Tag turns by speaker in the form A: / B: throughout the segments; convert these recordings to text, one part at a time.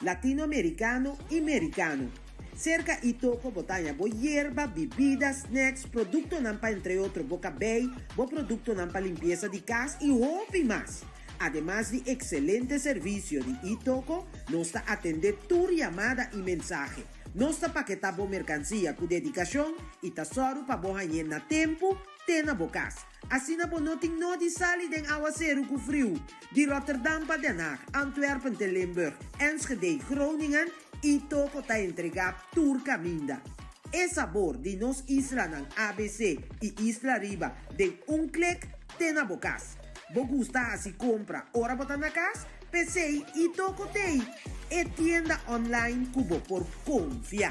A: Latinoamericano y Mericano. Cerca y toco bo taña bo yerba, bibida, snacks, productonan pa entre otro bo cabey, bo productonan pa limpieza di cas y hopi mas. Ademas di excelente servicio di y toco, nos ta atende tur yamada y mensahe. Nos ta paketa bo mercancia cu dedicacion y ta sòru pa bo hañ'e na tempu te na bo cas. Asina bo no tin nodi sali den awaseru ku friu di Rotterdam pa Den Haag, Antwerpen te Limburg, Enschede, Groningen i toko ta entregá tur kaminda. E sabor di nos islanan abc i isla riba den un klik te na bo kas. Bo gusta hasi kompra ora bo ta na kas? P'esei i toko t'ei e tienda online ku bo por konfia.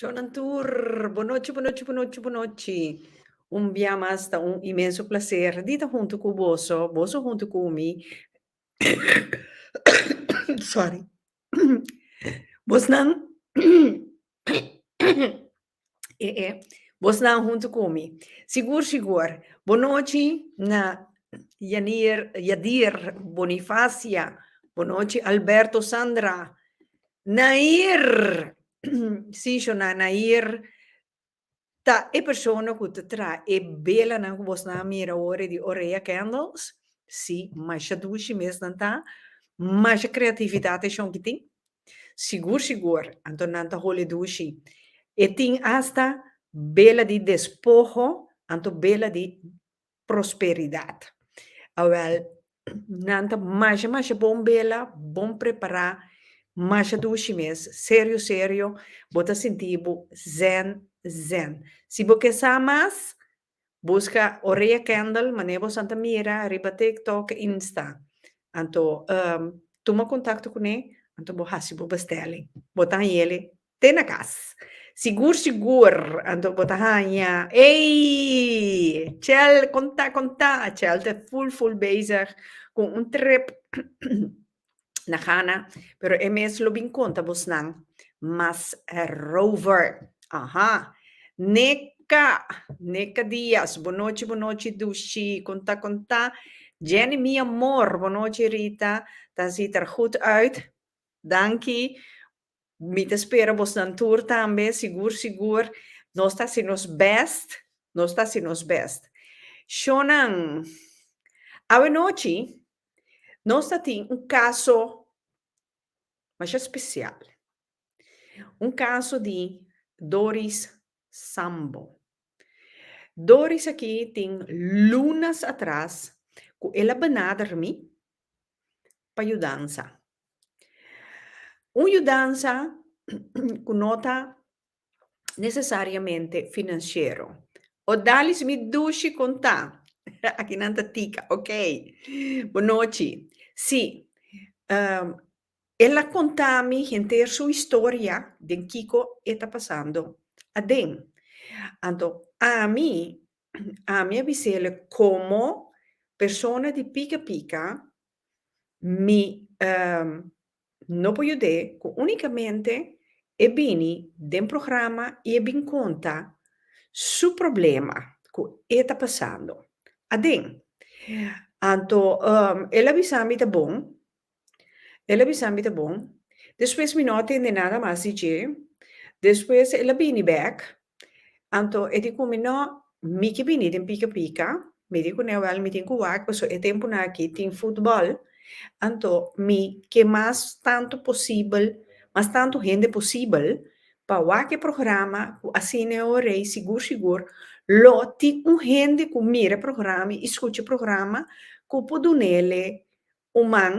A: Shownan tur, bo nochi, bo nochi, bo nochi, bo nochi. Un bia mas ta un inmenso placer di ta hunto cu boso, boso hunto cu mi. Sorry. Bosnan. E e Bo snan huntu ku mi. Sigur sigur. Bonochi na Yanier, Yadir, Bonifacia. Bonochi Alberto, Sandra. Nair! Si, shona, Nair ta e persona ku ta traha e belanan ku bosnan a mira awor e di Orea Candles. Si, masha dushi mes nan ta. Masha kreatividat e shon ki tin. Sigur sigur, anto nan ta hole dushi. E tin asta bela di despoho, anto bela di prosperidad. Awel, nan ta masha masha bon bela, bon prepara, masha dushi mes, serio serio, bo ta sinti bo zen zen. Si bo ke sa mas, Busca Orea Kendall mane bo san ta mira riba tik tok e insta anto um tuma contacto cune anto bo haci bo bestelling bo ta hañele te na cas sigur sigur anto bo ta haña ey Chel conta conta Chel ta full full bezig cu un trip na gana pero e mes lo bin konta bos nan mas rover aha neka neka dias bonochi bonochi dushi konta konta Jenny mi amor bonochi Rita ta ziet er goed uit danki Mi ta spera bosnan tur tambe, sigur sigur nos ta hasi nos bèst, nos ta hasi nos bèst. Shonnan, awenochi nos ta tin un kaso masha spesial, un kaso di Doris Sambo. Doris aki tin lunas atras ku el a bana dermi pa yudansa. Un yudansa ku no ta nesesariamente finansiero. Odalis mi dushi kon ta? Aki nan ta tika, okey. Bonochi. Sí, el a konta mi henter su historia den kiko e ta pasando aden. Anto ami, ami a bis'e komo persona di pika pika Mi no por yud'é cu unicamente e bini den programa y e bin conta su problema cu e ta pasando aden. Anto el a bisa mi ta bon, el a bisa mi ta bon. Despues mi no a tende nada mas di dje. Despues el a bini bek Anto e di kumi, No, mi ki bini den pika pika, mi di ku Newel, Mi tin ku wak, paso e tempunan aki tin futbòl, anto mi ke mas tantu posibel, mas tantu hende posibel pa wak e programa ku Asina e Rei sigur sigur lo tin un hende ku mira e programa i skucha e programa ku por dunele un man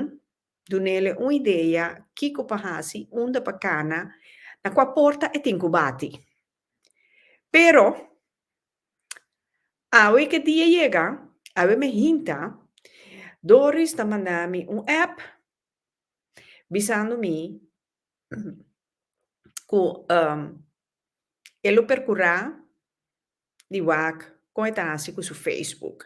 A: Dunele un idea kiko pa hasi, unda pa kana, na kua porta e tin ku bati. Pero, awe ku e dia yega, awe mi hinta, Doris ta manda mi un app bisando mi ku e lo perkurá. di wak kon e ta hasi ku su Facebook.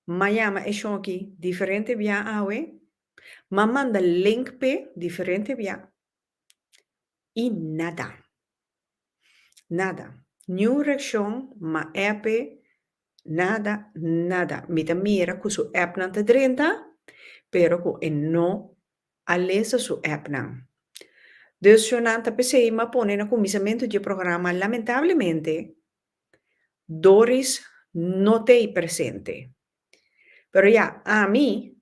A: M'a yama e shoki diferente bia awe, m'a manda link p'e diferente bia i nada. Nada. Niun reakshon, m'a app e Nada, nada. Mi ta mira cu su appnan ta drenta, pero cu e no a lesa su appnan. Dus show nan ta p'esey m'a pone na cuminsamentu dje programa. Lamentablemente, Doris no t'ey presente. Pero ya, ami,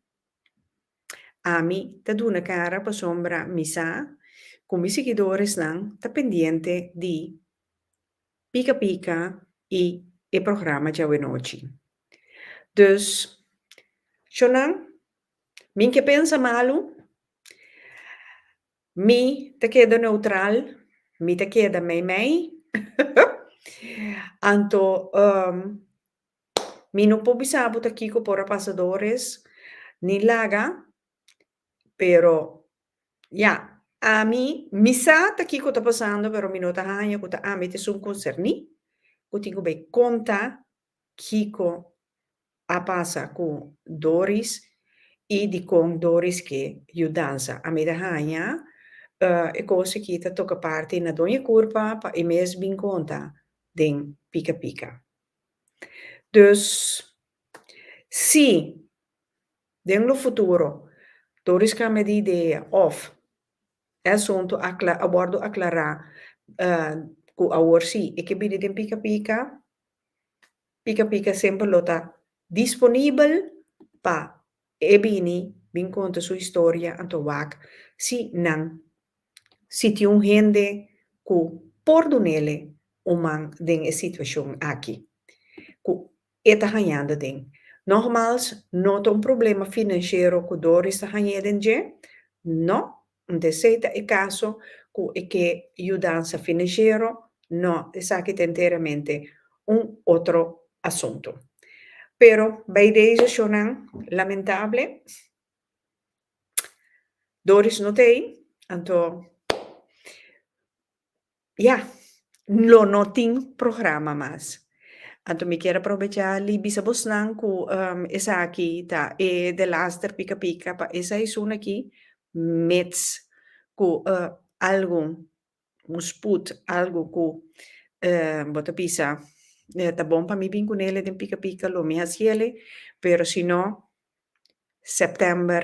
A: ami ta duna cara pasobra mi sa cu mi sigidoresnan ta pendiente di. Pika Pika y e programa Djawenotchi. Dus, chonan, mi n'ke pensa malu, mi ta keda neutral, mi ta keda mei mei, anto mi no por bisa bo ta kiko por a pasadores, ni laga Pero, ya, ami, mi sa ta kiko ta pasando, pero mi no ta haña ku ta ami ta esun konserní ku tin ku bai konta kiko a pasa ku Doris i dikon Doris ke yudansa. Ami ta haña e kos aki ta toka parti na Doña Kurpa pa e mes bin konta den Pika Pika. Dus, si. Den lo futuro, tur riskame di idea òf e asuntu a wòrdu aklará ku awor sí e ke bini den pika pika, pika pika semper lo ta disponibel pa e bini bin konta su historia anto wak si nan siti un hende ku por dunele un man den e situashon aki ku E ta hañando den. Nogmaals, no ta un problema finanshero ku Doris ta hañ'é den dje. No, nta esei ta e kaso ku e ke yudansa finanshero. No, esaki ta enteramente un otro asuntu. Pero bai dese shonnan lamentable, Doris no ta ei, anto Ya, lo no tin programa mas. Anto mi kier a probechá li bisa bosnan ku esaki ta e de laster pika pika pa e saisun aki, mits ku algun, un sput, algu ku bo ta bisa ta bon pa mi bin ku neli den pika pika lo mi hasieli, pero si no, sèptèmber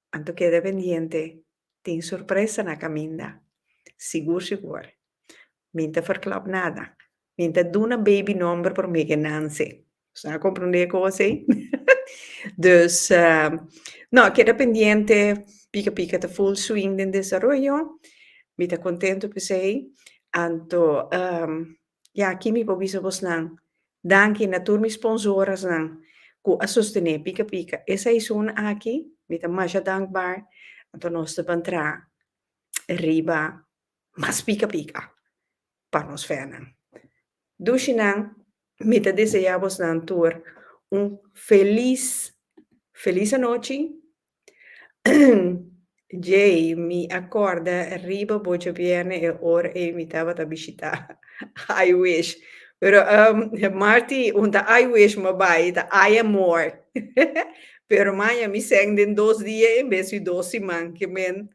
A: Anto keda pendiente, tin sorpresa na kaminda. Sigur sigur. Min ta ferklòp nada. Min ta duna baby nòmber por Miguel Nancy. Boso a komprendé e kos ei? Dus, nò, keda pendiente, pika pika ta full swing den desaroyo. Mi ta kontento p'esei. Anto, I aki mi por bisa bosnan danki na tur mi sponsorasnan ku a sostené Pika Pika. E seisun aki mi ta masha dankbar, anto nos ta bantra riba mas Pika Pika pa nos fènan. Dushinan, mi ta deseá bosnan tur un felis, felis anochi. Jay, Mi a corda riba bo djabierne e ora ey mi tabata bishita I wish pero Marty un ta I wish ma bay ta I am more pero maya mi seng den dos dia en bes di dos siman ke men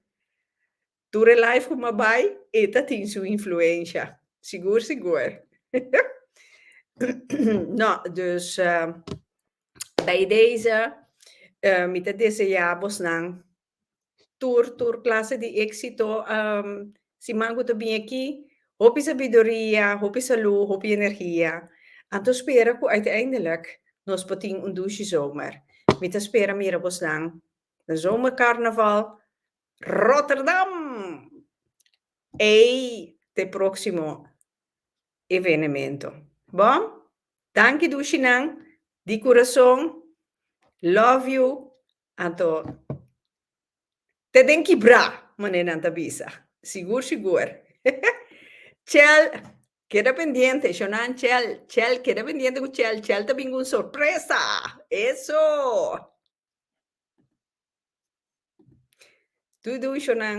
A: Tur e live cu m'a bay e ta tin su influencia. Sigur sigur. No, dus bij deze mi ta desea bosnan tur tur clase di exito. Siman cu ta bin aki hopi sabiduria, hopi salud, hopi energia. Anto spera cu uiteindelik nos por tin un dushi zomer. Mi ta spera mira bosnan na zomercarnaval Rotterdam! Ey ta e proximo evenemento. Bo? Danki dushi nan di curason. Love you anto ta den kibra mane nan ta bisa. Sigur sigur. Chel keda pendiente shonan chel chel keda pendiente cu chel chel ta bin cu un sorpresa. Eso! Tudu ushonan.